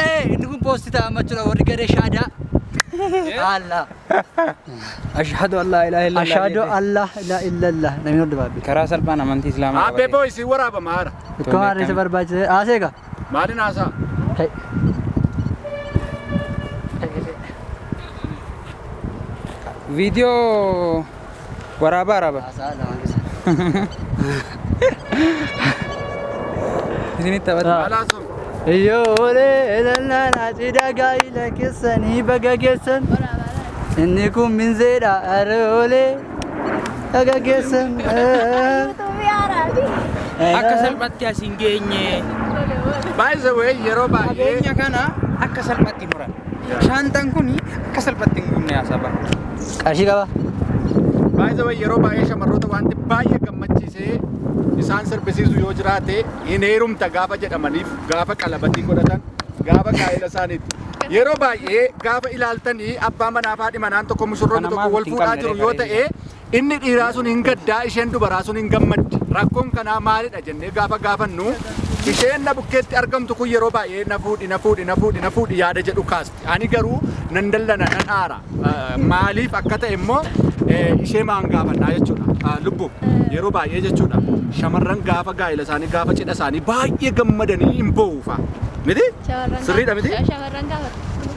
Ee, inni kun poosti ta'a amma jechuudha warri garee shaadaa. Allah. Ashhadu an laa ilaaha illallah. Ashhadu an laa ilaaha illallah. Namni hordofaa beeku. Karaa salphaan amantii Islaamaa Aabbee qabatee. boo isin waraabama haara. Itti waan isa barbaachise. Haasee gaa. Maaliin haasaa? Ta'e. Viidiyoo Waraabaa waraabaa. Haasaa lama keessa. Isinitti taphata. Alaa sun. Iyyoolee lallaanaa cidha gaa'ila keessanii baga geessan. Inni kun minzeedha aroolee baga geessan. Akka salphatti as hin geenye. By the way, yeroo baay'ee. Qabeenya kana akka salphatti. Ati mura. Shaanxaan kun akka salphatti hin gubne haasaa bara. Qarshii qaba. Baay'ee way yeroo baay'ee shamarroota wanti baay'ee gammachiisee isaan sirbisiisu yoo jiraate hin heerumta gaafa jedhamaniif gaafa qalabatii godhatan gaafa gaa'ela isaaniitti. Yeroo baay'ee gaafa ilaaltanii abbaa manaa fi haadhi manaan tokko mushurroonni Kana tokko maaf wal ittiin fuudhaa qabne jiru yoo referee ta'e Inni dhiiraa sun hin gaddaa, isheen dubaraa sun hin gammaddi. Rakkoon kanaa maalidha jennee gaafa gaafannu, isheen na bukkeetti argamtu kun yeroo baay'ee na fuudhi, na fuudhi, na fuudhi, na fuudhi yaada jedhu kaasti. Ani garuu nan dallana, nan aara. Maaliif akka ta'e immoo ishee maan gaafannaa jechuudha. Lubbu yeroo baay'ee jechuudha shamarran gaafa gaa'ela isaanii gaafa cidha isaanii baay'ee gammadanii hin boo'uufa. Miti? Sirriidha miti? Shamarran gaafatu.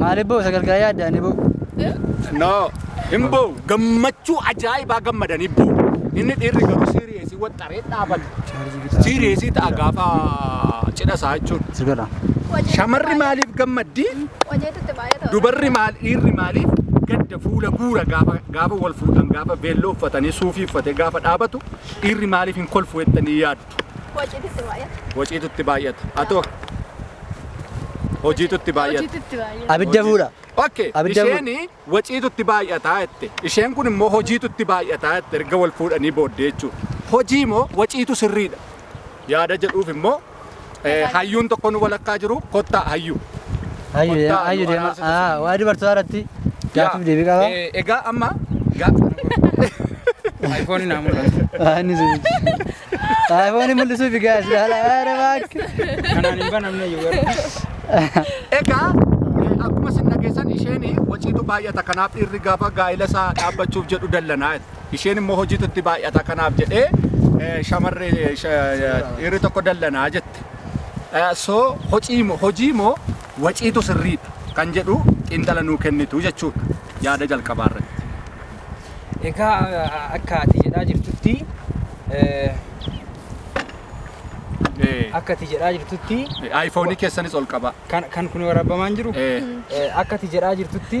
Maaliif boo sagal gaa yaaddaani boo. No. Hin boo gammachuu ajaa'ibaa gammadanii boo. Inni dhiirri garuu siiriyeesii waxxaree dhaabate. Siiriyeesii ta'a gaafa cidha isaa jechuudha. Sigadha. Shamarri maaliif gammaddi? Hojeetutti baay'ata. Dubarri maal dhiirri maaliif gadda fuula guura gaafa gaafa wal fuudhan gaafa veelloo uffatanii suufii uffatee gaafa dhaabatu dhiirri maaliif hin kolfu jettanii yaadu? Waciititti baay'ata. Waciitutti baay'ata. Atoo hojiitutti baay'ata. Hojiititti baay'ata. Abidda fuudha. Okay. Abidda fuudha. Isheen waciitutti baay'ataa jette. Isheen kun immoo hojiitutti baay'ataa jette erga wal fuudhanii booddee jechuudha. Hojii moo waciitu sirriidha. Yaada jedhuuf immoo eh, hayyuun tokkoon walakkaa jiru kottaa hayyuu. Hayyu deema, Kottaa, hayyu nu deema. araarsitu Ah, sun. waa'ee dubartootaa irratti gaaffiif deebii qaba. Eh, Egaa amma ga- Ayfooniin haa mul'atu. Ah, inni sun. Ayfoonii mul'isuuf egaa si haala haala baakki. Kanaan hin banamne iyyuu garuu. egaa eh, akkuma sin dhageessan isheen waciitu baay'ata kanaaf dhiirri gaafa gaa'ila isaa dhaabbachuuf jedhu dallanaa jette. isheen immoo hojiitu itti baay'ata kanaaf jedhee eh, shamarree eh, sha- eh, dhiirri tokko dallanaa jette. irratti. So hocii moo hojii moo waciitu sirriidha kan jedhu xiinxala nuu kennitu jechuudha yaada jalqabaa irratti. Egaa akka ati jedhaa jirtutti akka ati jedhaa jirtutti Ayfoonii keessanis ol qabaa. kan kan kun waraabbamaa hin jiru akka ati jedhaa jirtutti